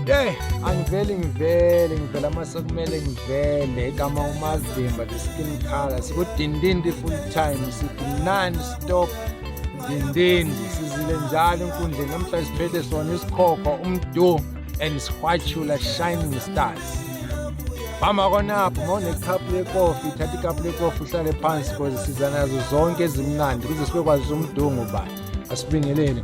Hey, angiveli ngivele ngivela mase kumele ngivele igama umazimba the skin color sikudindindi full time sithi non stop Ndindindi sizile njalo enkundleni namhlanje siphethe sona isikhokho umdu and sihwatshula shining stars hamba konapho uma unekhapu lekofi thatha ikhapu lekofi uhlale phansi koze siza nazo zonke ezimnandi kuze sibe kwazi umdungu ba asibingelele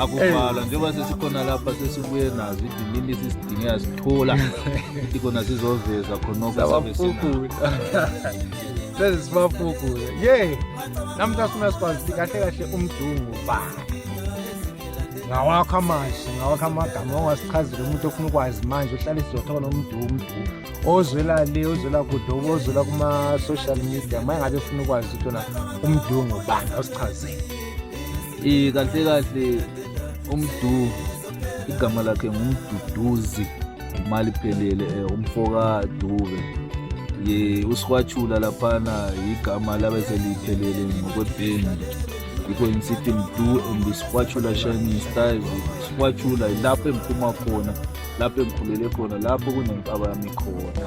akuvala njengoba sesikhona lapha sesibuye nazo idinini sisidinge yasithola ithi khona sizoveza khonokosesibafukuze ye namhla sifuna sikwazi ukuthi kahle kahle umdungu ba ngawakho amazwi ngawakho amagama ongasichazile umuntu ofuna ukwazi manje uhlale sizothona umdumdu ozwela le ozwela kude ozwela kuma-social media uma engabe efuna ukwazi ukuthi ona umdungu bani awusichazele Eh kahle kahle umdu igama lakhe ngumduduzi imali phelele eh, umfoka Dube ye usikwachula laphana igama labese liphelele ngokwebhendi yikho ngisithi mdu and sikwachula shining style sikwachula lapho engiphuma khona lapho engikhulele khona lapho kunenqaba yami khona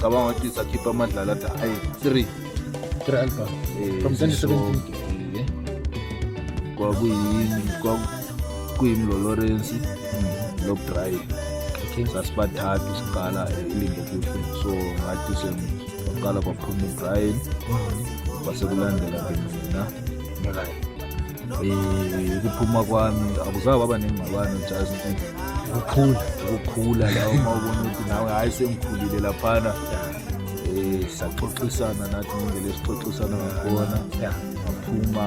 cabanga ukuthi sakhipha amadlala athi ayi three three album eh, from 2017 kwakuyini kwakuyimi lo Lawrence hmm, lo Brian okay sasibathathu siqala ilingo kuhle so ngathi sengaqala kwaphuma uBrian hmm. kwase kulandela mina eh ukuphuma kwami akuzabe baba nengxabano just ukukhula ukukhula la uma ubona ukuthi nawe hayi sengikhulile laphana eh saxoxisana nathi ngindlela esixoxisana ngakhona ngaphuma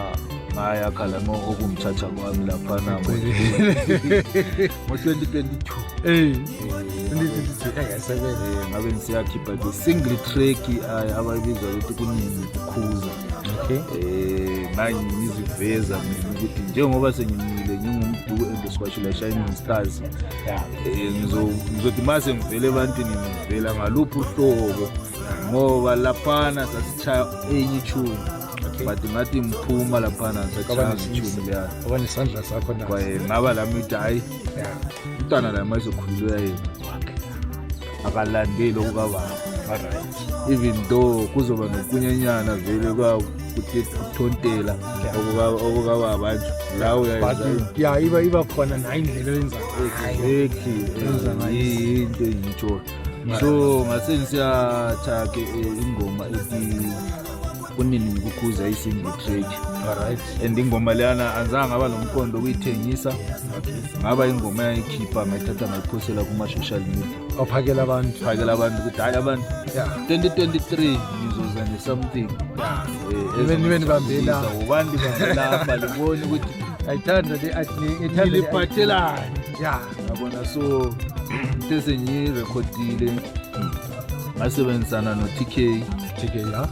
ngaya khalama okungithatha kwami laphana ngo-2022 eh, ngabe ngisiyakhipha ke single track abayibiza ukuthi kunini ukukhuza okay. eh manje ngiziveza mina ukuthi njengoba sengimile ngingumduku endiswashela shining stars yeah. eh ngizothi mase ngivele ebantwini ngivela ngaluphi uhlobo ngoba laphana sasishaya enye tune but ngathi ngiphuma laphana sachaya ngitune ya ngoba nesandla sakho na kwaye ngaba lami ukuthi hayi umntwana la mayezokhululwa yena akalandeli okukababa even though kuzoba nokunyanyana vele kuthontela okukababa nje la uyayenza iba iba khona nayo indlela oyenza yinto engiyitshoyo so ngase ngisiyatha-ke eh, ingoma ethi kunini ngikukhuza i-single track alright and ingoma leyana anzange ngaba nomqondo okuyithengisa ngaba ingoma yayikhipha ngayithatha ngayiphosela kuma-social media ophakela abantu phakela abantu ukuthi hhayi abantu ya 2023 ngizoza ne-something Eh, Nibe- nibe nibambela. ezongijabulisa. wobani nibambela apha liboni ukuthi ayithanda le ayithanda le- ngiliphathelani ya yabona so into esengiyirekhodile ngasebenzisana no-tk tk ya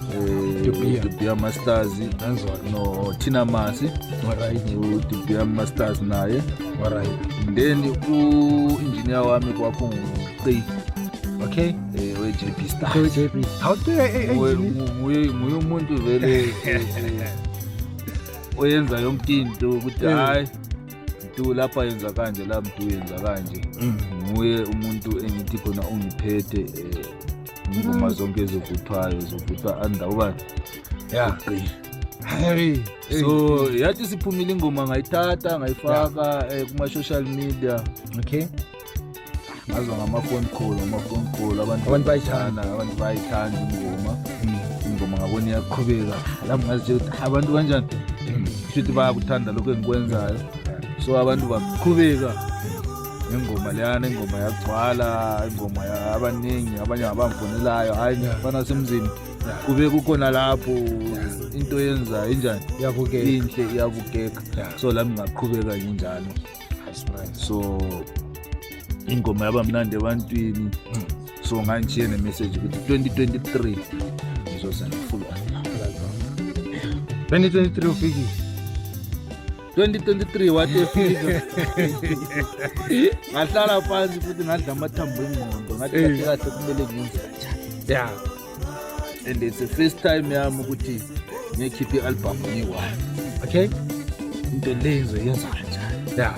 De Beer. dubia masters ngenzwa nothina masi alright udubia masters naye alright then u-engineer wami kwakunguqi okay um we-jp star so jp how do i Nguye- ngu- nguye nguye umuntu vele eh, eh, oyenza yonke into ukuthi Eh. hayi mdu lapha yenza kanje la mdu yenza kanje mm. nguye umuntu engithi khona ungiphethe eh, ingoma mm. zonke ezivuthwayo zivuthwa anda uba ya Hey, so yathi siphumile ingoma ngayithatha ngayifaka eh, kuma-social media okay ngazwa ngamafoni khulu ngamafoni khulu abantu Abantu bayithanda. bayithanda abantu bayithanda ingoma Mm. ingoma ngabona iyaqhubeka lapho ngazitshela ukuthi "Ha, abantu kanjani shuthi bayakuthanda lokhu engikwenzayo so abantu baqhubeka ingoma leyana ingoma yagcwala ingoma ya- abaningi abanye abamfonelayo hhayi ngifana semzini kube kukhona lapho into yenzayo injani yabukela inhle iyabukeka Yeah. so lami ngaqhubeka nginjalo so ingoma yaba mnandi ebantwini mm. so ngangishiye nemessage ukuthi 2023 ngizoza ne-full album 2023 ufikile 2023 wathi efika ngahlala phansi futhi ngadla amathambo engqondo ngathi kahle kahle kumele ngenze kanjani ya and it's the first time yami ukuthi ngikhiphe i-album ngiyi-one okay into lezo yenza kanjani ya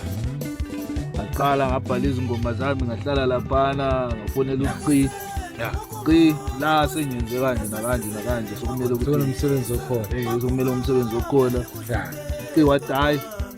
ngaqala ngabhala izingoma zami ngahlala laphana ngafonela uqi ya qi la sengenze kanje nakanje nakanje sokumele ukuthi umsebenzi okhona eh sokumele umsebenzi okhona ya qi wathi hayi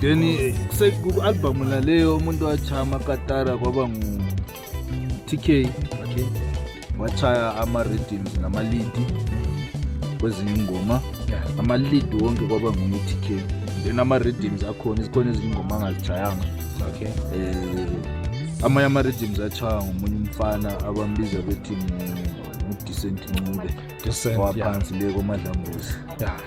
then ku-albhamu laleyo umuntu washaya amakatara kwaba ngu-tk okay. washaya ama-rhythms namalidi kwezinye ingoma yeah. amalidi wonke kwaba ngu-tk then ama-rhythms akhona zikhona ezinye ingoma angazishayanga okay. eh, amanye ama-rhythms achaya ngomunye umfana abambiza bethi udecent ncube waphansi le komadlambuzi yeah.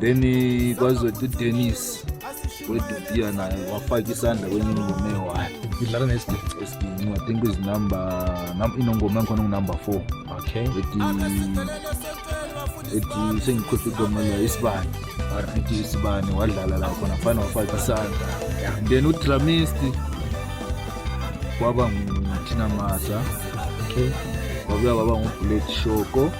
then kwazothi udenis wedutia naye wafaka isandla kwenye ingoma ewayo idlala nesiginci i think izinumber inongoma engikhona ngunumber four okay ethi ethi sengikhohlwa igama la isibani ethi isibani wadlala la khona fana wafaka isandla then udramist kwaba nguthina masa okay wabuya waba ngubuleti shoko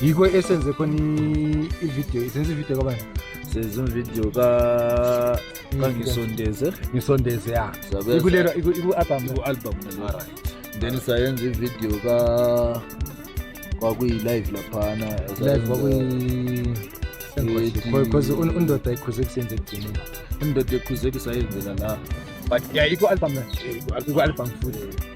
yikho esenze khona ividiyo isenza ividiyo kabani senza ividiyo kangisondeze ngisondeze ya ikulelo iku-album iku-album right then sayenza ividiyo ka kwakuyi-live laphana live kwakuyi because undoda ikhuze kusenze ekugcineni undoda ikhuze kusayenzela la but ya iku-album na iku-album futhi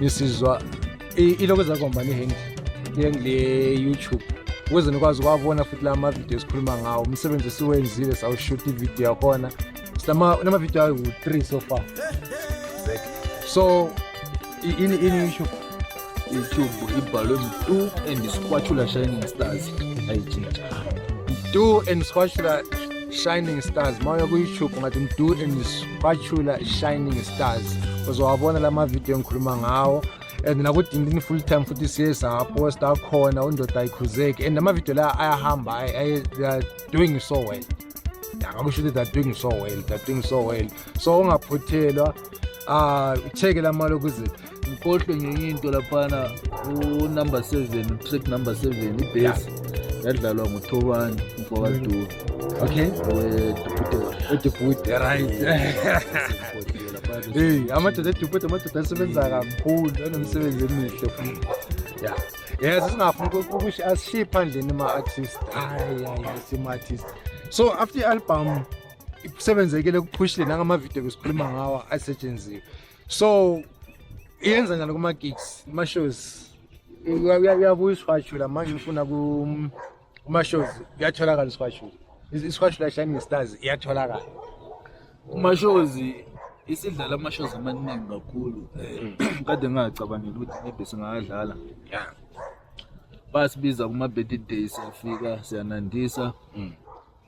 nisizwa iloko ezakuhambani ihendi le-youtube ukuze nikwazi ukwabona futhi la mavidiyo esikhuluma ngawo umsebenzi esiwenzile sawushutha ividiyo yakhona sinamavidiyo awu-three so far so ini ini youtube youtube ibhalwe mtu and isikwatshula shining stars ayitshintsha mtu and isikwatshula shining stars uma uya ku-youtube ungathi mtu and bachula shining stars uzowabona la mavidiyo engikhuluma ngawo and nakudindini full time futhi siye saposta akhona undoda ayikhuzeki and amavidiyo la ayahamba they are doing so well akakusho ukuthi they are doing so well they are doing so well so ungaphuthelwa um ah, cheke la mali okuze ngikhohlwe ngenye into laphana unumber seven track number seven ibhesi yadlalwa nguthobani mfowakaduka okay wedubhude right hey amadoda edubhude amadoda asebenza kakhulu anomsebenzi emihle futhi ya yes singafuni ukuthi asishiye phandleni ama-artist hayi hayi sima-artist so after i-album kusebenzekile kuphushile nangamavidiyo besikhuluma ngawo asetshenziwe so yenza njani kuma gigs kuma shows uyabuya isihwashula manje ufuna kuma shows uyatholakala isihwashula isihwashula shining stars iyatholakala kuma shows isidlala ama shows amaningi kakhulu eh, kade ngingacabangeli ukuthi maybe singadlala yeah basibiza kuma birthday siyafika siyanandisa mm.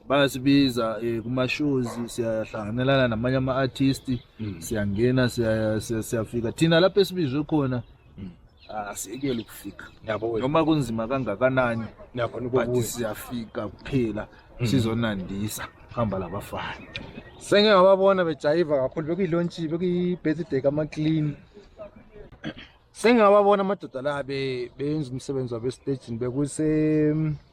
bayasibiza eh, kuma-shows siyahlanganelana namanye ama-artist mm. siyangena siyafika thina lapho esibizwe khona mm. asiyekele ah, ukufika noma kunzima kangakanani but siyafika kuphela mm. sizonandisa hamba labafana senge ngababona bejayiva kakhulu bekuyilontshi bekuyi-birthday kamaclean sengingababona amadoda la benza umsebenzi wabo esitejini bekuse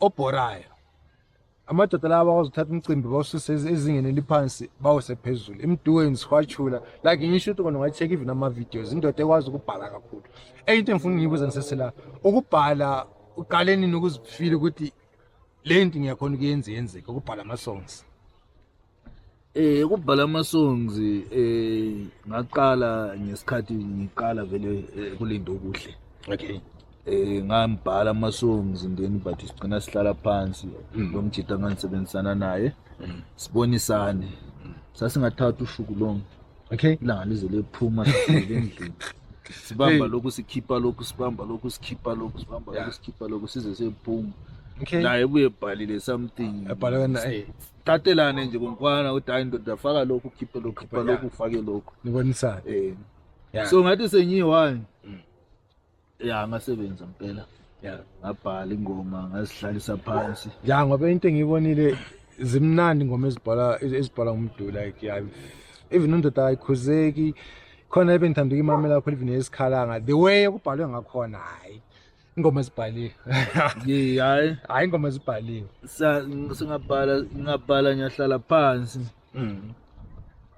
obhorayo amadoda lawa bakwazi ukuthatha umcimbi bawususe ezingeni eliphansi bawuse phezulu emdweni siwashula like ngisho ukuthi kona ungayi-check even ama-videos indoda ekwazi ukubhala kakhulu enye into engifuna ngiyibuza ngisesela ukubhala uqale nini ukuzifile ukuthi le nto ngiyakhona ukuyenza yenzeke ukubhala ama-songs Eh kubhala amasongs eh ngaqala ngesikhathi ngiqala vele eh, kulinda okuhle. Okay. Eh ngambhala amasongs ndeni but sigcina sihlala phansi mm. lo mjita nganisebenzisana naye. Mm. Sibonisane. Mm. Sasingathatha ushuku lonke. Okay. Ilanga lize lephuma endlini. Sibamba lokhu sikhipha lokhu sibamba lokhu sikhipha lokhu sibamba lokhu sikhipha lokhu size sephuma. Okay. Naye ubuye ebhalile something. Ebhalwe naye. Qatelane nje kumfana ukuthi hayi ndoda faka lokhu khiphe lokhu khipha lokhu ufake lokhu. Nibonisana. Eh. Yeah. So ngathi senyiwani. Mm. Yeah ngasebenza impela. Yeah. Ngabhala ingoma ngazihlalisa phansi. Yeah ngoba into engiyibonile zimnandi ingoma ezibhala ezibhala umuntu like yeah even undoda ayikhuzeki khona ebengithanda ukuyimamela kakhulu even esikhalanga the way okubhalwe ngakhona hayi ingoma ezibhaliwe ye hayi hayi ingoma ezibhaliwe singabhala ngingabhala ngiyahlala phansi mm.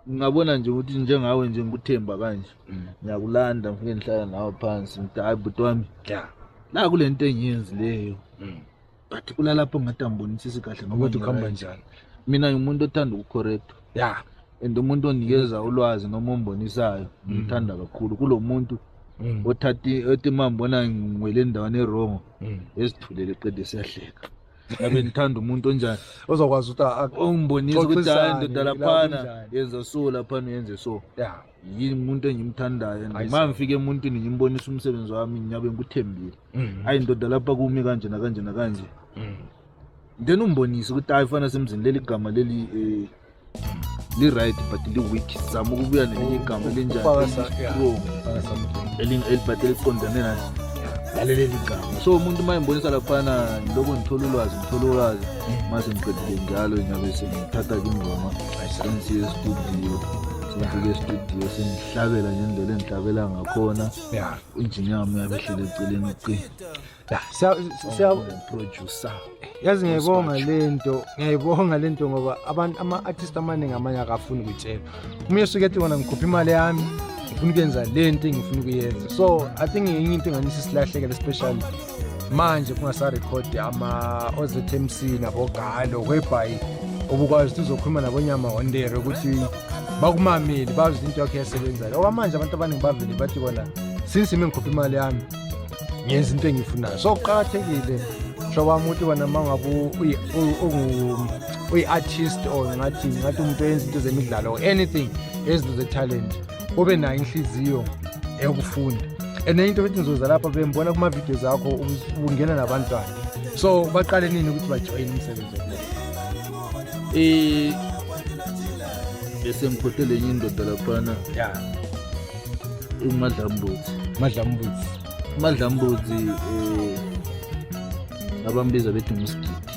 ngingabona nje ukuthi njengawe nje ngikuthemba kanje mm. ngiyakulanda ngifike ngihlala nawe phansi ngithi hayi bhuti wami la kule nto engiyenzi leyo mm. but kulalapho ngathi angibonisisi kahle noma ukuthi kuhamba njani mina ngimuntu othanda ukucorrecta ya and umuntu onikeza ulwazi noma ombonisayo ngimthanda kakhulu kulo muntu Mm. othathi othi mambona ngwele endaweni erongo mm. ezithulele qede siyahleka ngabe ngithanda umuntu onjani ozokwazi ukuthi ongibonisa ukuthi hayi ndoda laphana yenza so laphana yenze so yeah yini umuntu engimthandayo and uma ngifika emuntwini ngimbonisa umsebenzi wami ngiyabe ngikuthembile mm. ayi ndoda lapha kumi kanje nakanje nakanje mm. then umbonise ukuthi hayi fana semzini leli gama leli um li-right but li-weak zama ukubuya nelinye igama elinjanistrong but eliqondane nani laleleli gama so umuntu uma embonisa laphana lokho ngithola ulwazi ngithola ulwazi mase ngiqedile njalo nyabe sengithatha ke ingoma sengisiye estudio ngifike estudio sengihlabela ngendlela engihlabela ngakhona ya injini yami yabehlele eceleni ucingo ya siya siya producer yazi ngiyayibonga lento ngiyayibonga lento ngoba abantu ama artist amaningi amanye akafuni ukutshela uma esuke ethi wona ngikhupha imali yami ngifuna ukuyenza lento engifuna ukuyenza so i think ngenye into enganisa isilahlekele especially manje kungasarekhodi ama-ozmc nabogalo whereby ubukwazi ukuthi uzokhuluma nabonyama hondere ukuthi bakumameli bazi ukuthi into yakho iyasebenzayo okwamanje abantu abaningi bavele bathi kona since ime ngikhupha imali yami ngenza into engiyifunayo so kuqakathekile hlobo wami ukuthi wena uma ngabe uyi-artist or ngathi ngathi umuntu oyenza into zemidlalo or anything ezinto ze-talent obe nayo inhliziyo eyokufunda and enye into ethi ngizoza lapha bembona kuma-videos akho ungena nabantwana so baqale nini ukuthi bajoyine umsebenzi um bese ngikhohlele enye indoda laphana ya umadlambuzi madlambuzi umadlambuzi um abambiza bethi ngumsigidi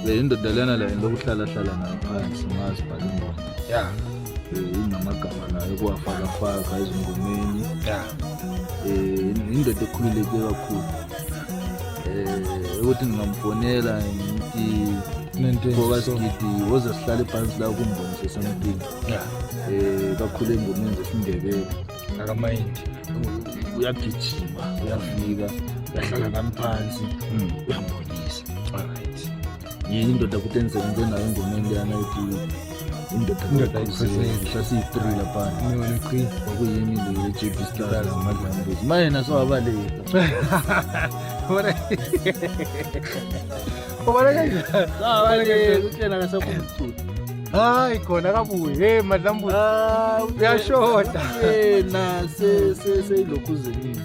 Le indoda lena la lokuhlala hlala nayo phansi ngazi bhala ingoma. Yeah. Eh inamagama nayo kuwafaka faka ezingomeni. Yeah. Eh indoda ekhululeke kakhulu. Eh ukuthi ngingamfonela ngithi ngoba sigidi woze sihlale phansi la kumbonise something um kakhulu engomeni zesindebele akamayindi uyagijima uyafika uyahlala nami phansi hmm. uyambonisa alright yini indoda kuthi enzenze nayo engomeni leyana yothi indoda kodwa siyi-three laphana okuyimi leyo ye-jb star ngamadlambuzi manje nasowabaleka Ubona kanjani? Hayi utshena akasaphuma umculo. Hayi khona akabuye. Hey madlambuzi. Hayi uyashoda. Yena se se se lokhu zenini.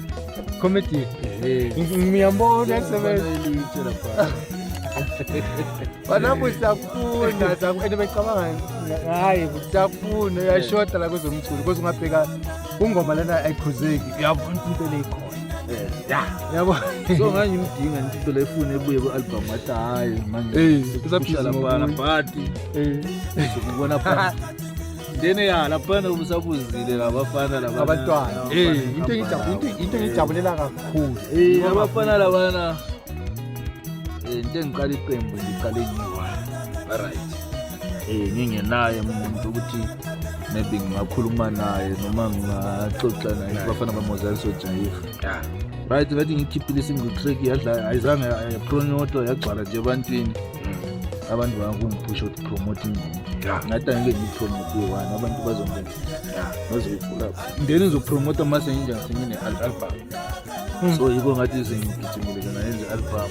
Comedy. Eh. Ngiyambona sebenza ilitshela pha. Banabu siyakufuna and becabanga hayi siyakufuna uyashoda la kwezomculo kodwa ungabheka kungoma lena ayikhuzeki uyabona into leyikho yabo so ngangimdinga nje into lefuna ebuye ku-album wathi hhayi manjeisaphishala phana but ukubona phana then ya laphana ubusabuzile labafana labantwana into engijabulela kakhulu abafana labana into engiqala iqembu ngiqale ngiyi-one right um ngingenaye muntu ukuthi maybe ngingakhuluma naye noma ngingaxoxa naye bafana bamozali sojayiha right ngathi ngikhiphile isingqixreki yadla ayizange yapronyotwa yagcwala nje ebantwini mm. abantu bangungiphusha ukuthi promote ingoma ngathi angike ngiyipromote one abantu bazongena bazoyifula ndeni ngizopromota mase nginjani sengine-album hmm. so yiko ngathi sengigijimile kona yenze i-album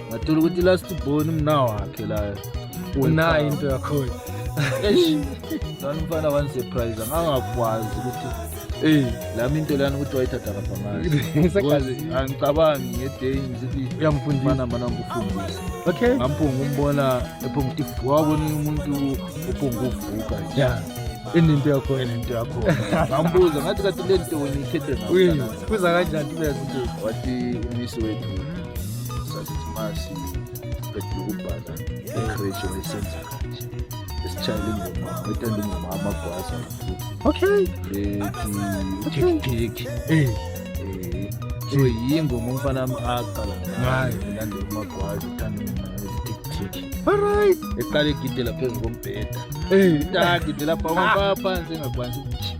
ngathola ukuthi last born umna wakhe la unayo into yakhona eish lana umfana wangisurprise angakwazi ukuthi eyi lami into lana ukuthi wayithatha lapha ngazi angicabangi ngeday ngizithi uyamfundisana mana ngikufundisa okay ngampunga umbona ephunga ukuthi wabona umuntu uphunga uvuka ya enento yakhona enento yakhona ngambuza ngathi kati lento wena ikhethe ngayo Kuza kanjani uyazi nje. Wathi umisi wethu sasisimasi qedile ukubhala ekreshi wayesenza kanje. Esitshayela ingoma, wayethanda ingoma amagwaza kakhulu. Okay. Ethi uthekitheki. Eh. Eh, so yingoma umfana wami aqala ngayo ulandela umagwaza uthanda ingoma ezithekitheki Alright. eqala egidela phezu kombheda Eh. ngidela pha phansi engakwanisi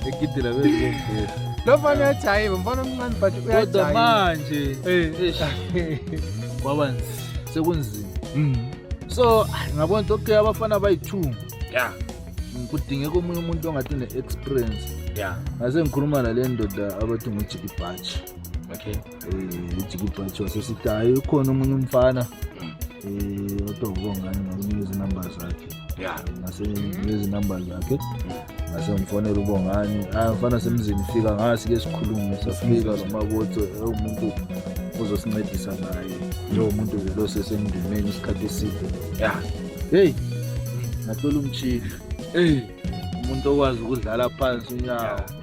egidela bezongena lo mfana uyajayiva mfana omncane but kodwa uyajayiva manje Eh. kwaba nzima sekunzima Mm. so ngabona ukuthi okay abafana bayi-two Yeah. kudingeka omunye umuntu ongathi une-experience Yeah. ngase ngikhuluma nale ndoda abathi ngujiki bhatshi Okay. Eh, ujikibha kuthiwa sesitayi ukhona omunye umfana um kodwa ubongani ngakunika izinamba zakhe nasenezinamba zakhe nasemfonela ubongani ah mfana semzini fika ngasi ke sikhulume safika nomakotho ewumuntu uzosincedisa naye lowo muntu ke lo sesemndimeni isikhathi eside ya heyi ngathola umtshila eyi umuntu okwazi ukudlala phansi unyawo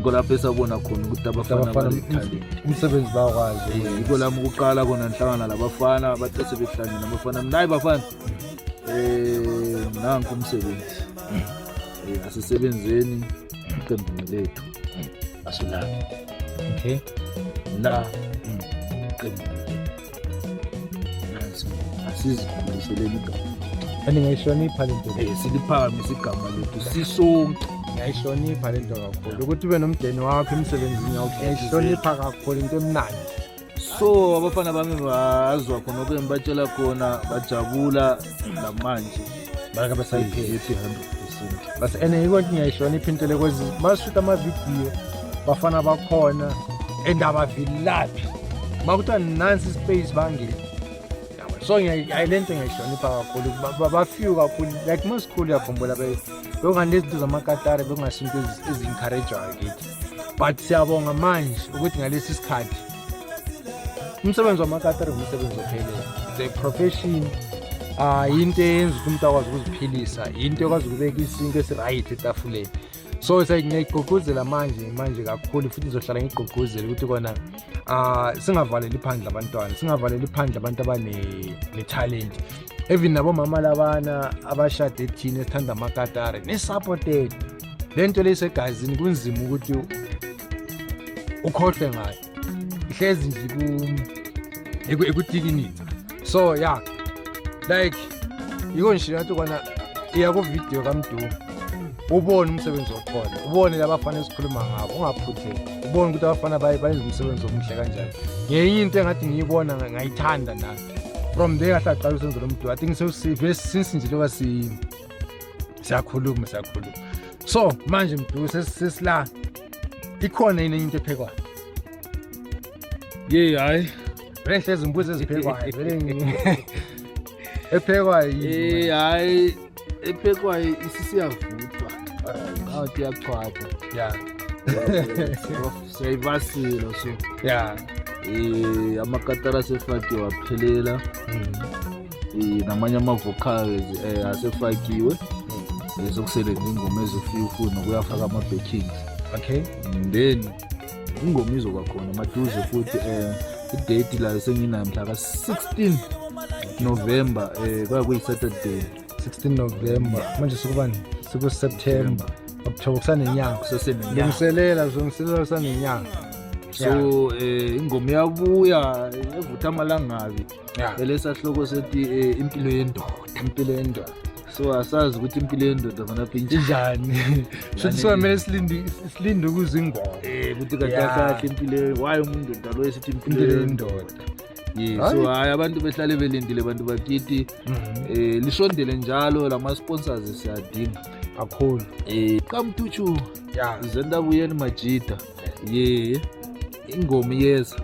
Ngolapho esabona khona ukuthi abafana Abafana banethalente. umsebenzi bakwazi Eh, ukwenza. Yiko lami ukuqala kona ngihlangana labafana bathe sebehlangene abafana mina hayi bafana eh nanku umsebenzi Eh, asisebenzeni iqembini lethu asilaphi okay la iqembini asizikhuliseleni igama kanti ngayihlonipha le nto um siliphakamise igama lethu sisonke ngiyayihlonipha le nto kakhulu ukuthi ube nomdeni wakho emsebenzini yakho ngiyayihlonipha kakhulu into emnandi so abafana bami bazwa khona okuye ngibatshela khona bajabula namanje baka basayihethi 100 percent bas ene yiko ngiyayihlonipha into le kwezi mashuta amavidiyo bafana bakhona and abavilaphi bakuthiwa nansi ispace bangile so le nto ngiyayihlonipha kakhulu bafew kakhulu like masikhulu uyakhumbula bekunganto ezinto zamakatare bekungasho into ezincouragewayo kithi but siyabonga manje ukuthi ngalesi sikhathi umsebenzi wamakatari umsebenzi ophelele the profession ah into eyenza ukuthi umuntu akwazi ukuziphilisa into ekwazi ukubeka isinto esiright etafuleni so sengiyayigqugquzela manje manje kakhulu futhi ngizohlala ngigqugquzele ukuthi kona ah singavaleli phandle abantwana singavaleli phandle abantu abane talent even nabomama labana abashade thina esithanda amakatare ne-supported le nto leyisegazini kunzima ukuthi ukhohlwe ngayo ihlezi nje ikutikinitsa so ya like yiko nje nathi kwana iya kuvidiyo kamdu ubone umsebenzi okhona ubone labafana esikhuluma ngabo ungaphutheki ubone ukuthi abafana baye bayenza umsebenzi omuhle kanjani ngenye into engathi ngiyibona ngayithanda nami from there ngahlaqala usenzo lomdu i think sesive since nje loba siyini siyakhuluma siyakhuluma so manje mdu sesila ikhona yini into ephekwayo ye hayi rehle ezimbuzi eziphekwayo ephekwayo yini hayi ephekwayo isisiyavuthwa awu tiyakuchwatha ya siyayivasila so ya eh amakatara sefakiwa phelela mm. eh, namanye ama-vocals um asefakiwe ezokusele nje ingoma ezofika ufuna kuyafaka ama-backings okay then ingoma izoba khona maduze futhi um idate layo senginayo mhla ka-16 november um kwaya kuyi-saturday 16 november manje sikubani sikuseptember okuthoba kusanenyanga kusesenelungiselela zilungiselela kusanenyanga so um ingoma iyabuya evutha amalangabi yeah. belesa sihloko sethi eh, impilo yendoda impilo yendoda so asazi ukuthi impilo yendoda vanapha injani shothi siwamele silinde ukuza ingoma um ukuthi kadasahle impilo wayo umuntu ndalo esithi impilo yendoda yes so hayi abantu behlale belindile bantu bakithi um mhm. eh, lisondele njalo la ma-sponsors siyadinga kakhulu um qamtutshu zendabuyeni majida ye ingoma iyeza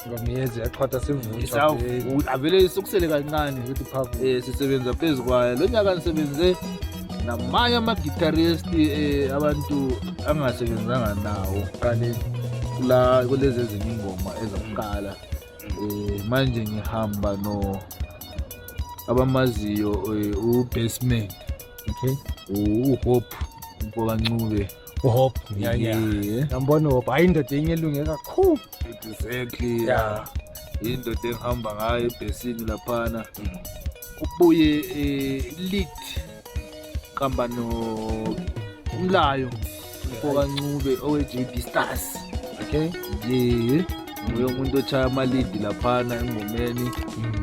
ingoma iyeza yaqhatha sivutha avele isukusele kancane ukuthi phavu eh sisebenza phezu kwayo lo nyaka nisebenze namanye ama-guitarist eh, abantu angasebenzanga nawo kale la kulezi ezinye ingoma ezokuqala eh manje ngihamba no abamaziyo eh, u-basement okay uhope mfokancube uhope Yeah, yeah. Yeah. yambona uhope hayi indoda enye elunge kakhulu Exactly. Yeah. Yeah. Indoda ehamba ngayo ebhesini laphana. Ubuye eh lead kamba no umlayo mfoka Ncube owe JD Stars. okay Ye. Nguye umuntu ochaya ama lead laphana engomeni.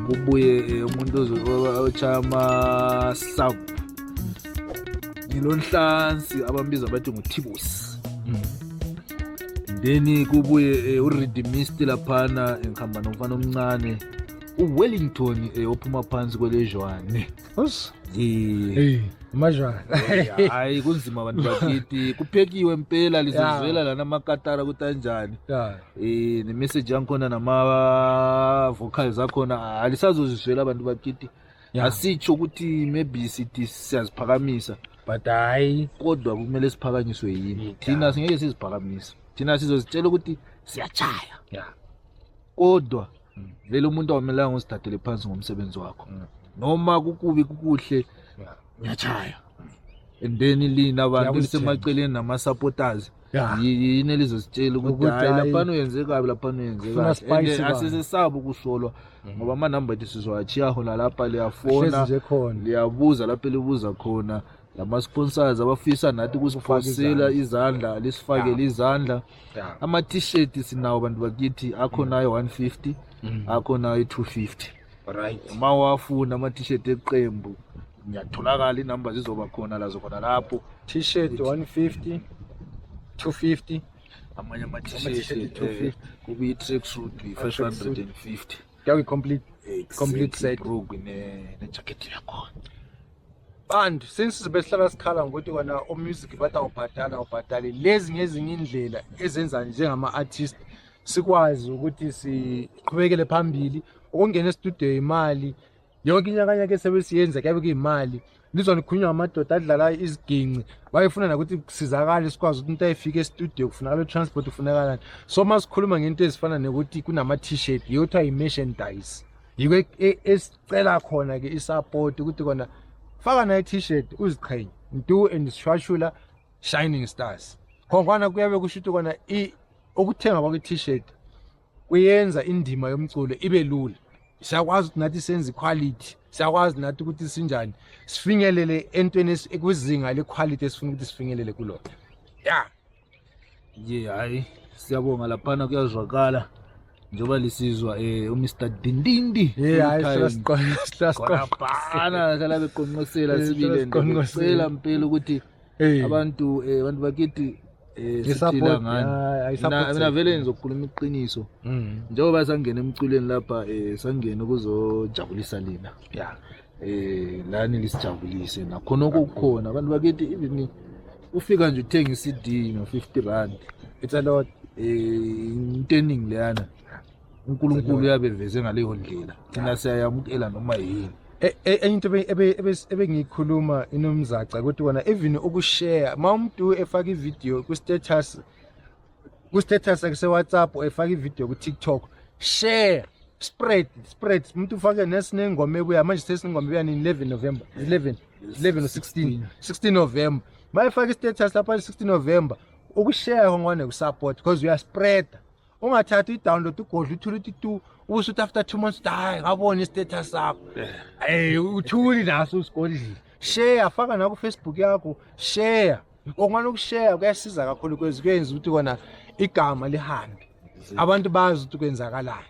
Ubuye eh, umuntu ozo- ochaya ama sub ngilonhlansi abambiza bathi nguthibusi mm. then kubuye eh, uredimist laphana ngihamba nomfana omncane uwellington eh, ophuma phansi kwelejwane Hey, majwana. Hayi kunzima abantu bakithi. Kuphekiwe impela lizozwela lana amakatara ukuthi anjani. Eh nemessage yangikhona nama vocals akhona alisazozizwela abantu bakithi. Yeah. asitsho ukuthi maybe sithi siyaziphakamisa but hayi kodwa kumele siphakanyiswe yini Yeah. thina singeke siziphakamise thina sizozitshela ukuthi siyachaya yeah kodwa Mm. vele umuntu awumelanga uzithathele phansi ngomsebenzi wakho Mm. noma kukubi kukuhle yeah ngiyachaya and then lina abantu Ngiyakulithenga. sisemaceleni nama-supporters Yeah. Yi- yini elizositshela ukuthi Ukuthi hayi hhayi, laphana uyenze kabi laphana uyenze Funa kabi spice And, eh, bani. asisesaba ukusolwa ngoba amanamba ethu sizowathiya hona lapha hlezi liyafona nje khona liyabuza lapho elibuza khona lama-sponsors abafisa nathi ukusiphosela izandla lisifakele izandla Yeah. ama-t-shirt sinawo bantu bakithi akhonayo 150 akhonayo 250 Right. uma wafuna ama-t-shirt eqembu ngiyatholakala inamba zizoba khona lazo khona lapho t-shirt 150 250 amanye ama-t-shirt eh, kube i-track suit yi-550 yawe complete complete set broke ne-jacket yakhona and since besihlala sikhala ngokuthi kona omusic bathi awubhadala awubhadali lezi ngezinye indlela ezenza njengama-artist sikwazi ukuthi siqhubekele phambili ukungena estudio imali yonke inyakanyaka esewe siyenza kuyabe kuyimali lizwa nikhulunywa ngamadoda adlala iziginci bayefuna nakuthi kusizakale sikwazi ukuthi umuntu ayefika estudio kufunakala i-transport kufunakalani so uma sikhuluma ngento ezifana nokuthi kunama-t-shirt yiyo kuthiwa yi-merchandise yiko e, e, esicela khona-ke i-support ukuthi kona faka nayo i-t-shirt uziqhenye ntu and sishwashula shining stars khongwana kuyabe kusho ukuthi kona ukuthenga kwakwi-t-shirt kuyenza indima yomculo ibe lula siyakwazi ukuthi nathi senze iquality siyakwazi nathi ukuthi sinjani sifinyelele entweni ekwizinga lequality esifuna ukuthi sifinyelele kulona ya ye hayi siyabonga laphana kuyazwakala njengoba lisizwa um eh, umr dindindi yeyhayihlasiqoqana hlala beqonqosela sibile ndicela mpela ukuthi Hey. abantu eh, abantu bakithi eh, siphila I-support, ngani yeah, I-support Mina- mina system. vele ngizokhuluma iqiniso Mm. njengoba sangena emculweni lapha eh, sangena ukuzojabulisa lina Yeah. eh lani lisijabulise nakhona okukhona abantu bakithi even ufika nje uthenga i-CD no 50 rand It's a lot. eh into eningi leyana uNkulunkulu uyabeveze ngaleyo ndlela thina siyayamukela noma yini E- e- enye into ebe- ebe- ebe- ebengiyikhuluma inomzaca ukuthi wona even ukushare uma umuntu efaka ividiyo ku-status ku-status sewhatsapp efaka ividiyo ku-tiktok share spread spread umuntu ufake nesinengoma ebuya manje sesinengoma ebuya nini 11 november 11 11 or 16 16 november uma efaka i-status lapha 16 november ukushare ngone kusupport because uyaspreada ungathathi uyidownload ugodla uthule uthi tu ubusuthi after two months uthi hayi ngabona istatus sakho ey uthuli naso usigodlile share faka naku Facebook yakho share okungani ukushare kuyasiza kakhulu kwezi kuyenza ukuthi kona igama lihambe abantu bazi ukuthi kwenzakalani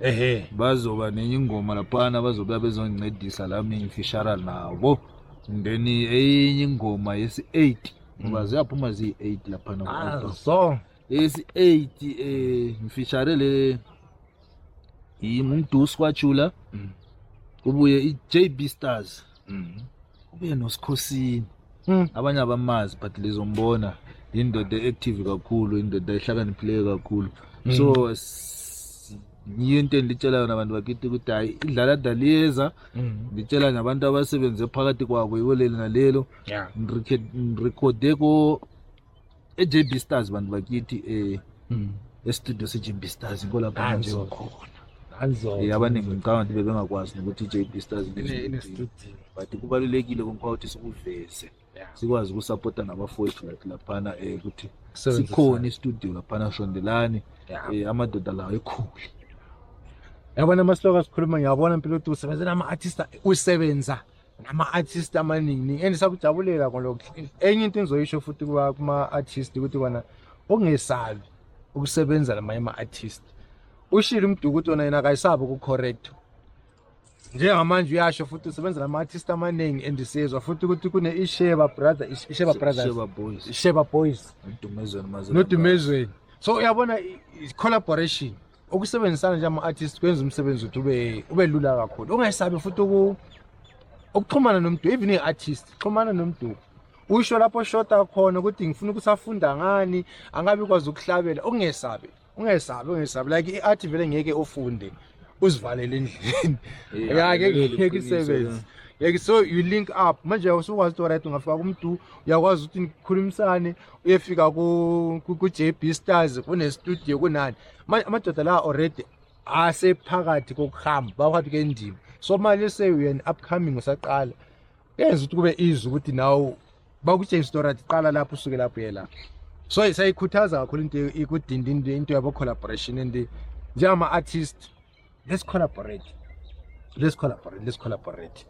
ehe bazoba nenye ingoma laphana bazobuya bezongincedisa la mingifishara nabo then eyinye ingoma yesi-eight ngoba mm. ziyaphuma ziyi-eight laphana ah, so yesi-eight um eh, ngifishare le yimumdusi kwajula mm. kubuye i-jb stars Mhm. Ubuye noSikhosini. Mm. Abanye abamazi but lizombona indoda active kakhulu, indoda ehlakaniphileyo kakhulu. Mm. So s- yiyo into enditshela yona abantu bakithi ukuthi hayi idlala daliyeza Mm. nditshela nabantu abasebenze phakathi kwabo yiwo leli nalelo Yeah. Ngirikhe- ngirikhode ko eJB Stars bantu bakithi eh mm. estudio seJB Stars inkolapha manje khona Eh, abaningi ngicabanga ukuthi bebengakwazi nokuthi i-jb stars but kubalulekile kumphakathi sikuveze sikwazi ukusapota nabafowethu lathi laphana um eh, ukuthi sikhona istudio laphana shondelani um eh, amadoda lawo ekhule yabona amasloka sikhuluma ngiyabona mpilo ukuthi usebenzela ama-artista usebenza nama-artist amaningi and sakujabulela kolokhu enye into engizoyisho futhi kuma-artist ukuthi kona ungesabi ukusebenza lamanye ama-artist ushile umduku ukuthi wona yena akayisabi ukucorrect njengamanje uyasho futhi usebenza nama-artist amaningi and siyezwa futhi ukuthi kune-isheba brother isheba brothers isheba boys nodumezweni so uyabona collaboration ukusebenzisana njengama-artist kwenza umsebenzi ukuthi ube ube lula kakhulu ungayisabi futhi ukuxhumana nomduku even i-artist xhumana nomduku usho lapho shota khona ukuthi ngifuna ukuthi afunda ngani angabi kwazi ukuhlabela ungesabi ungesabi ungesabi like i-art vele ngeke ufunde uzivalele endlini yake ngeke isebenzi yeke so you link up manje usukwazi ukuthi right ungafika kumdu uyakwazi ukuthi nikhulumisane uyefika ku-jb stars kunestudio kunani manje amadoda la already asephakathi kokuhamba baphakathi kendima so manje sewuyena upcoming usaqala yenza ukuthi kube izwi ukuthi nawo bakutshengisa into right qala lapho usuke lapho ye lapho so isayikhuthaza kakhulu into ikudinda into into yabo collaboration and njengama artist let's collaborate let's collaborate let's collaborate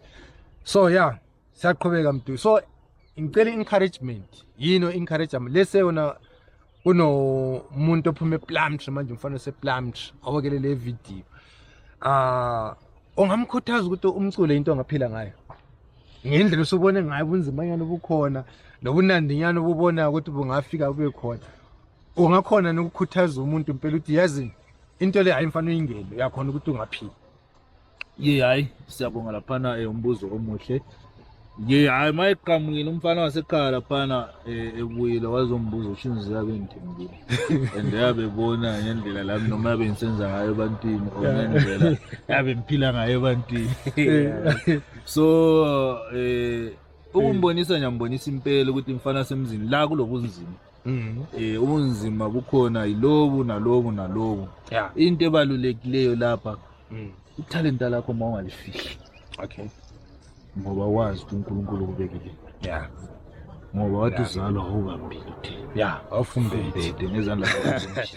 so yeah siyaqhubeka mdu so ngicela encouragement yini encouragement lese yona kunomuntu ophuma eplumtree manje umfana oseplumtree awokele le video ah ongamkhuthaza ukuthi umculo into ongaphila ngayo ngendlela usubone ngayo ubunzima nyana obukhona nobunandi nyana obubona ukuthi bungafika kube khona ungakhona nokukhuthaza umuntu impela ukuthi yazi into le hayi mfana uyingene uyakhona ukuthi ungaphila ye hhayi siyabonga laphana um eh, umbuzo omuhle ye hhayi uma eqhamukile umfana wasekhaya laphana um eh, ebuyile wazombuza usho inzizi yabe ngithembile and yabe bona ngendlela lami noma yabe ngisenza ngayo ebantwini or ngendlela yabe ngiphila ngayo ebantwini so um ukumbonisa ngiyambonisa impela ukuthi mfana semzini la kulokunzima Mm. Eh ubunzima bukhona yilobu nalobu nalobu. Yeah. Into ebalulekileyo lapha. Mm. Ithalenta lakho uma ungalifihli. Okay. Ngoba wazi ukuthi uNkulunkulu ukubekile. Yeah. Ngoba wathi uzalwa awukambili. Yeah, afumbethe ngezandla zakhe.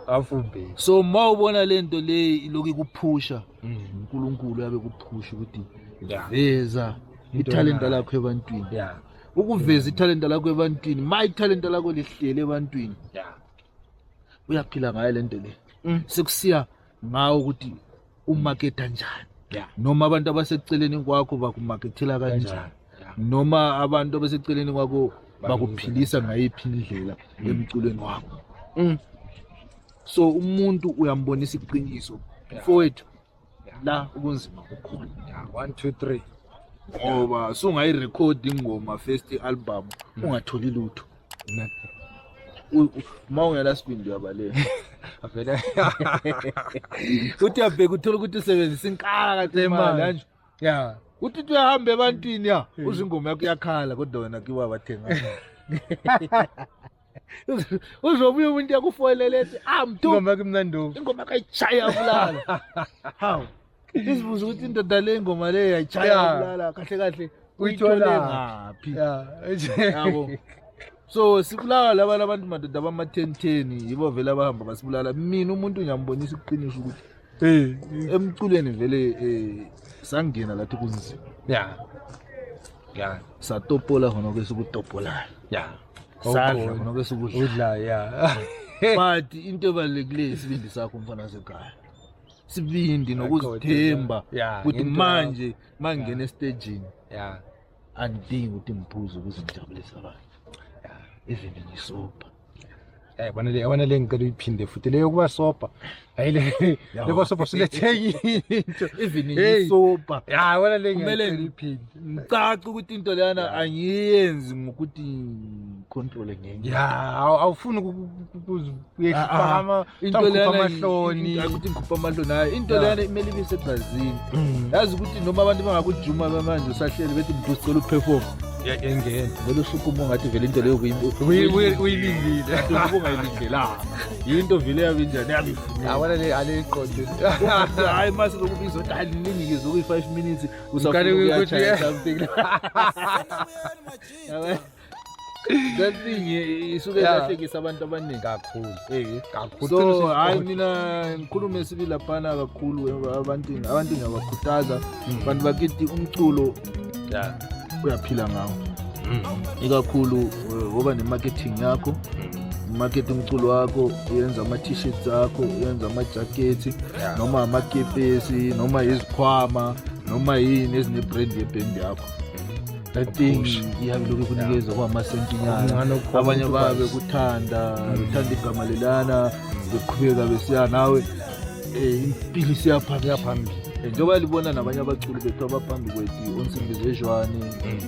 Afumbethe. So uma ubona lento leyi iloku ikuphusha, mm. uNkulunkulu yabe kuphusha ukuthi veza ithalenta lakho ebantwini. Yeah. ukuveza ithalenta lakho ebantwini ma ithalenta lakho lihlele ebantwini ya uyaphila ngayo le nto le Mm. sekusiya ngawo ukuthi umaketha njani ya noma abantu abaseceleni kwakho bakumakethela kanjani Kanjani, ya. noma abantu abaseceleni kwakho bakuphilisa ngayiphi indlela emculweni wakho Mm. so umuntu uyambonisa iqiniso mfowethu la ubunzima bukhona ya 1 2 3 ngoba sungayirekhodi ingoma first album ungatholi lutho uma ungela sibindi uyabaleka avele uthi uyabheka uthola ukuthi usebenzisa inkala kade imali kanje ya uthi uthi uyahamba ebantwini ya uzingoma yakho iyakhala kodwa wena kiwa bathenga uzobuya umuntu yakufoyelele ethi amdu ah, ingoma kumnanduku ingoma kayishaya bulala hawu isibuza ukuthi indoda le ngoma le yayishaya bulala kahle kahle uyithole ngaphi yabo so sibulawa laba labantu madoda bama-ten ten yibo vele abahamba basibulala mina umuntu ngiyambonisa ukuqinisa ukuthi Eh, emculweni vele eh sangena lathi kunzima. Yeah. Yeah. Satopola khona kwesukutopolayo. Yeah. Sadla khona kwesukudla. Udla yeah. But into ebalekile isibindi sakho mfana sekhaya. Sibindi nokuzithemba ukuthi manje mangena estage. Yeah. angidingi ukuthi ngiphuze ukuze ngijabulise abantu even ngisobha Eh bana le yabona le ngicela uyiphinde futhi le yokuba sopa. Hayi le lebo sopa siletheki into. Even isopa. Ya wena le ngicela uyiphinde. Ngicaca ukuthi into leyana angiyenzi ngokuthi control ngenye. Ya awufuni uyehlipha into ah, ah. leyana amahloni ukuthi ngikhupha amahloni hayi into leyana kumele ibe sebrazini mm. yazi ukuthi noma abantu bangakujuma bamanje usahleli bethi mntu sicela uperform yayengena vele usukuma ungathi vele into leyo uyilindile ubungayilindelanga yinto vele yabe njani yabefunaawanale aliqonde hayi mase lokubiza ukuthi aliningikize okuyi-five minutes usakuthi that thing eh, isuke Yeah. ilahlekisa abantu abaningi kakhulu Eh, kakhulu so Qinisile hayi ukuthi- mina ngikhulume esibi laphana kakhulu eh, abantu abantu ngiyabakhuthaza Mm, abantu bakithi umculo yeah, uyaphila ngawo mm, ikakhulu eh, woba ne-marketing yakho mm, marketing umculo wakho uyenza ama-t-shirts akho uyenza amajakhethi yeah. noma amakepesi noma izikhwama noma yini ezinebrand yebhendi yakho that thing ihambe lokhu kunikeza kwamasentinyana abanye babe kuthanda uthanda igama lelana beqhubeka besiya nawe eh, impilo isiyaphambili yaphambili eh, njengoba libona nabanye abaculi bethu abaphambi kwethu onsimbizejwane um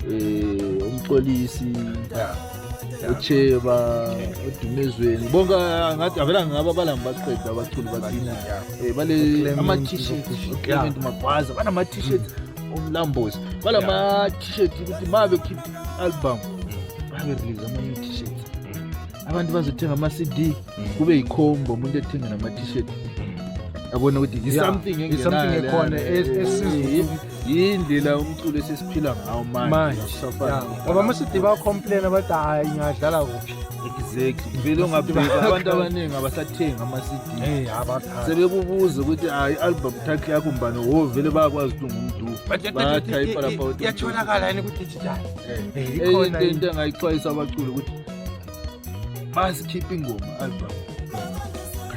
mm. umxolisi eh, ucheba odumezweni bonke ngathi avela ngaba balami baqeda abaculi bathina bale ama-t-shirt clement magwaza banama-t-shirt mm. umlambozi bala yeah. ma t-shirt ukuthi ma bekhipha album mm. babe release ama new t-shirt mm. abantu bazothenga ama CD mm. kube yikhombo umuntu ethenga nama t-shirt yabona ukuthi yi something engenayo ekhona yindlela umculo esesiphila ngawo manje abamashidi ba complain abathi hayi ngadlala kuphi exactly vele ungabheka abantu abaningi abasathengi ama-cd sebekubuza ukuthi hayi i-album track yakho mbani wo oh, vele bayakwazi ukuthi ungumdubathayipa laphoyatholakala yini kudigital eyinto into engayixwayisa abaculi ukuthi masikhiphe ingoma album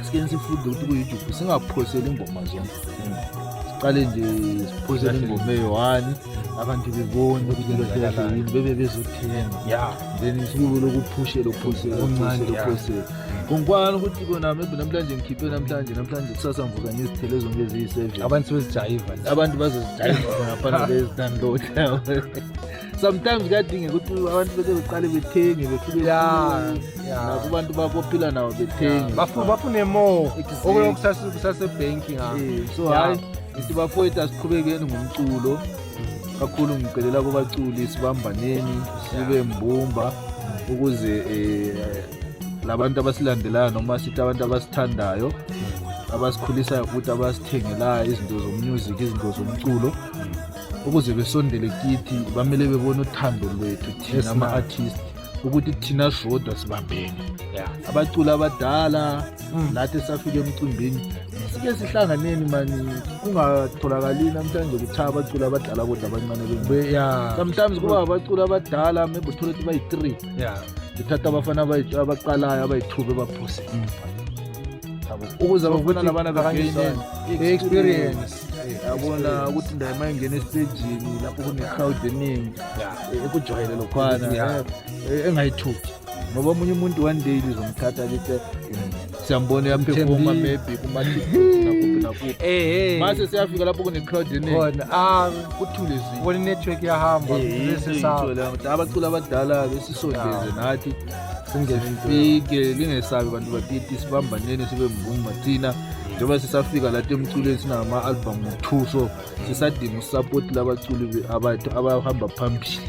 asikeni sifunde ukuthi kuyijubu singaphoseli ingoma zonke siqale nje siphosele ingoma eyi-one abantu bebona ukuthi lento yini bebe bezothenga ya then isibuko lokuphushe lophose okuncane lophose ngikwana ukuthi kona maybe namhlanje ngikhiphe namhlanje namhlanje kusasa ngivuka ngizithele zonke eziyi-seven abantu sebezijayiva abantu bazozijayiva ngaphana bezidownload sometimes kuyadingeka ukuthi abantu bese beqale bethenge befike nakubantu bakophila nabo bethenge bafune more okuyokusasebhenki ngakho so hayi Ngithi bafowethu asiqhubekeni ngomculo kakhulu ngicelela kubaculi sibambaneni sibe mbumba ukuze eh, labantu abasilandelayo noma sithi abantu abasithandayo abasikhulisayo futhi abasithengelayo izinto zomusic izinto zomculo ukuze besondele kithi bamele bebone uthando lwethu thina ama-artist ukuthi thina sodwa sibambene abaculi abadala mm. lathi safike emcimbini sike sihlanganeni mani kungatholakali namhlanje kuthiwa abaculi abadala kodwa abancane sometimes kuba abaculi abadala maybe uthole ukuthi bayi-three ngithatha abafana abaqalayo abayi-two bebaphose mm. ukuze bafuna labana bekangeneni i-experience yabona ukuthi ndaye uma ingena esitejini lapho kune-crowd eningi ekujwayele lokhwana engayithuki ngoba omunye umuntu one day lizomthatha lithi siyambona uyaphefoma maybe kumaakuphi eh, eh. mase siyafika lapho kune-crowd eningiona ah, kuthule zibona inetwork yahamba eh, abacula abadala besisondeze nathi singefike lingesabi bantu bakithi sibambaneni sibe mbumba thina njengoba sisafika lathi emculweni sinama-albhamu two so sisadinga usapoti labaculi abathu abahamba phambili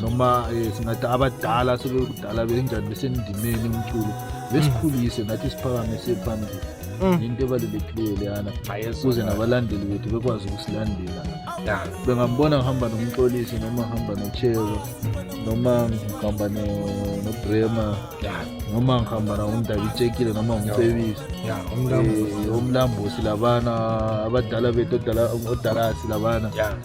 noma eh, singathi abadala sebekudala benjani besendimeni umculo besikhulise nathi siphakamise phambili Mm. yinto ebalulekile leyana kuze nabalandeli bethu bekwazi ukusilandela bengambona ngihamba nomxolisi noma ngihamba nochelo noma ngihamba no- nobrema noma ngihamba nawundabitshekile noma ngumfebisi Eh, omlambusi labana abadala bethu odala- odalasi labana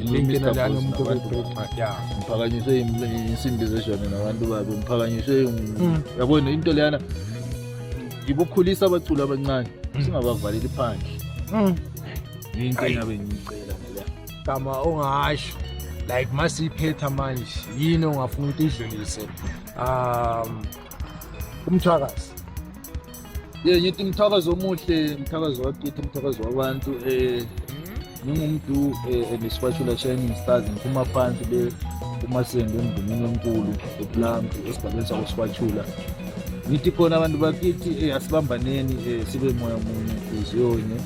Ilimi nalani umuntu obebheka. Yeah. Ngiphakanyiswe im- insimbi zejwane nabantu babi. Ngiphakanyiswe im- Mm. yabona into leyana ngibukhulisa abaculi abancane singabavaleli phandle. Mm. Yinto engabe ngiyicela ngaleya. Gama ongasho like masiphetha manje yini ongafuna ukuthi idlulise um umthwakazi ye ngithi umthakazo omuhle umthakazo wakithi umthakazo wabantu um ngingumdu um nesipatshula shining stars ngiphuma phansi le umasengo emndumini omkulu eplanti esigabeni sakwasipatshula ngithi khona abantu bakithi um asibambaneni um sibe moya munye hliziyonye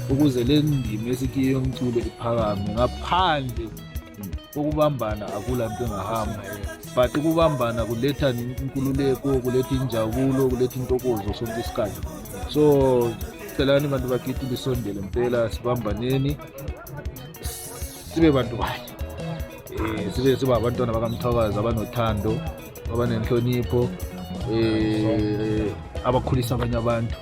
ukuze le ndima esikiyo yomculo iphakame ngaphandle kokubambana akula nto engahamba but ukubambana kuletha inkululeko kuletha injabulo kuletha intokozo sonke isikhathi so celani bantu bakithi lisondele mpela sibambaneni sibe bantu bayo um eh, sibe siba abantwana bakamthwakazi abanothando abanenhlonipho um abakhulisa abanye abantu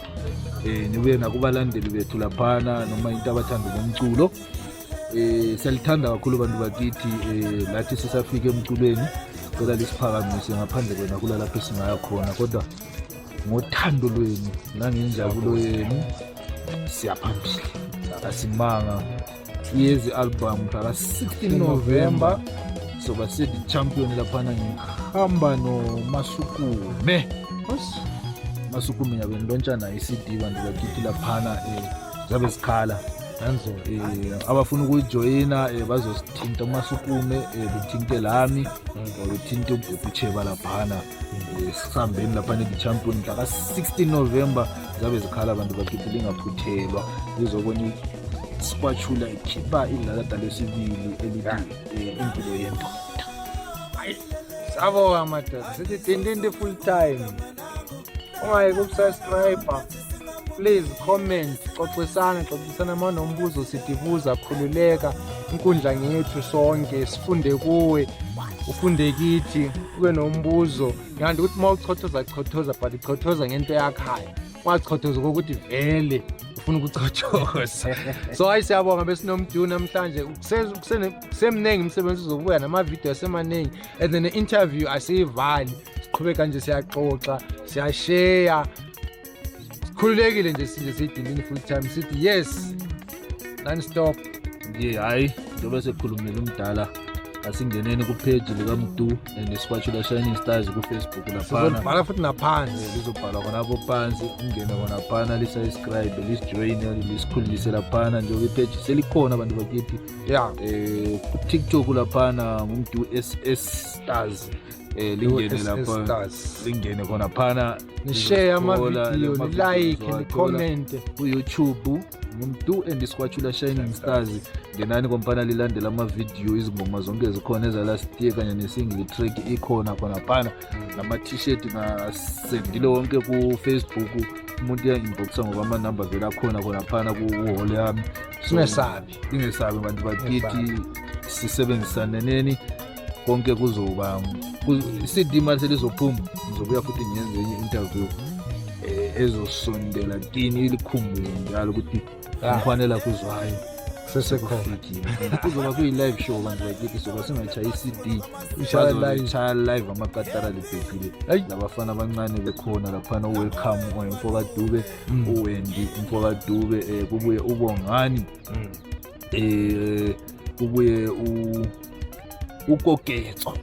um nibuye nakubalandeli bethu laphana noma into abathanda ngomculo Eh selithanda kakhulu abantu bakithi eh lathi sisafike emculweni cela lisiphakamise ngaphandle kwena kula lapho singaya khona kodwa ngothando lwenu nangenjabulo yenu siyaphambili asimanga iyezi album mhlaka 16 November soba sithi champion laphana ngihamba nomasukume masukume yabeni lontshana i-cd bantu bakithi laphana um zabe zikhala nanzo um abafuna ukuyijoyina um bazosithinta uma sukume um bethinte lami or bethinte ubhubhi ucheba laphana um sisambeni laphana i-champion mhla ka-16 november zabe zikhala abantu bakithi lingaphuthelwa lizobona isikwatshula ikhipha idlalada lesibili elithi um impilo yendoda sabo amadoda sithi dindindi full time ungayeke ukusascribe please comment xoxisana xoxisana uma nombuzo sidibuza khululeka inkundla ngethu sonke sifunde kuwe ufunde kithi ube nombuzo ngiyanda ukuthi uma uchothoza chothoza but chothoza ngento yakhayo ungachothozi kokuthi vele ufuna ukuchothoza so hayi siyabonga besinomdu namhlanje kusemningi imisebenzi uzobuya namavidiyo asemaningi and then ne-interview asiyivali siqhube kanje siyaxoxa siyasheya sikhululekile nje sinje siyidindini full time sithi yes non stop nje hhayi njengoba sekhulumile umdala asingeneni kupheji likamdu and isikwatshula shining stars kufacebook laphana futhi naphansi lizobhalwa khonapho phansi ungene khona phana lisubscribe lisijoyine lisikhululise laphana njengoba ipheji selikhona abantu bakithi ya um eh, kutiktok laphana ngumdu ss stars Eh, lingene USS lapha Stars. lingene khona phana Nishare Lizothola amavidiyo, lama nilike, videos owathola nikhomente. ku-youtube ngumdu and isikwatshula shining stars ngenani kompana lilandela amavidiyo izingoma zonke zikhona eza-last year kanye ne-single track ikhona khona phana nama-t-shirt ngasendile wonke ku-facebook umuntu uyanginboxa ngoba amanumber vele akhona khona phana kuhole yami So, Singesabi. ningesabi bantu bakithi sisebenzisane neni konke kuzoba i-cd mali selizophuma ngizobuya futhi ngenze enye interview eh, ezosondela kini ilikhumbule njalo ukuthi ah. ngifanela kuzwayo sesekhona kuzoba kuyi-live show bantu bakithi soba singayishaya i-cd shaya live amakatara libhekile labafana abancane bekhona laphana u-welcome oyemfokadube mm. uwendi mfokadube um eh, kubuye ubongani um mm. kubuye eh, ukoketso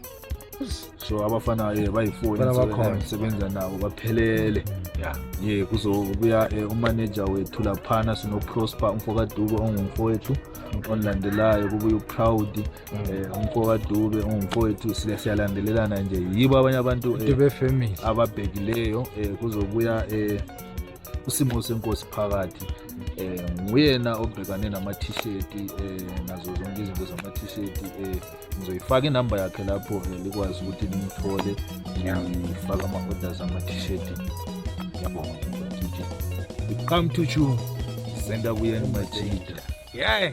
so abafana um bayifoni sebenza nabo baphelele mm. ye kuzobuya um umaneja wethu laphana sinoprosper umfokadube ongumfowethu ongilandelayo kubuye uproud Eh, umfoka Dube ungumfowethu sile siyalandelelana nje yibo abanye abantu eh, Dube family ababhekileyo eh, kuzobuya usimo senkosi phakathi eh nguyena obhekane nama t-shirt eh nazo zonke izinto zama t-shirt eh ngizoyifaka inamba yakhe lapho likwazi ukuthi nimthole ngiyafaka ama orders ama t-shirt yabonga come to you senda kuyena machida yeah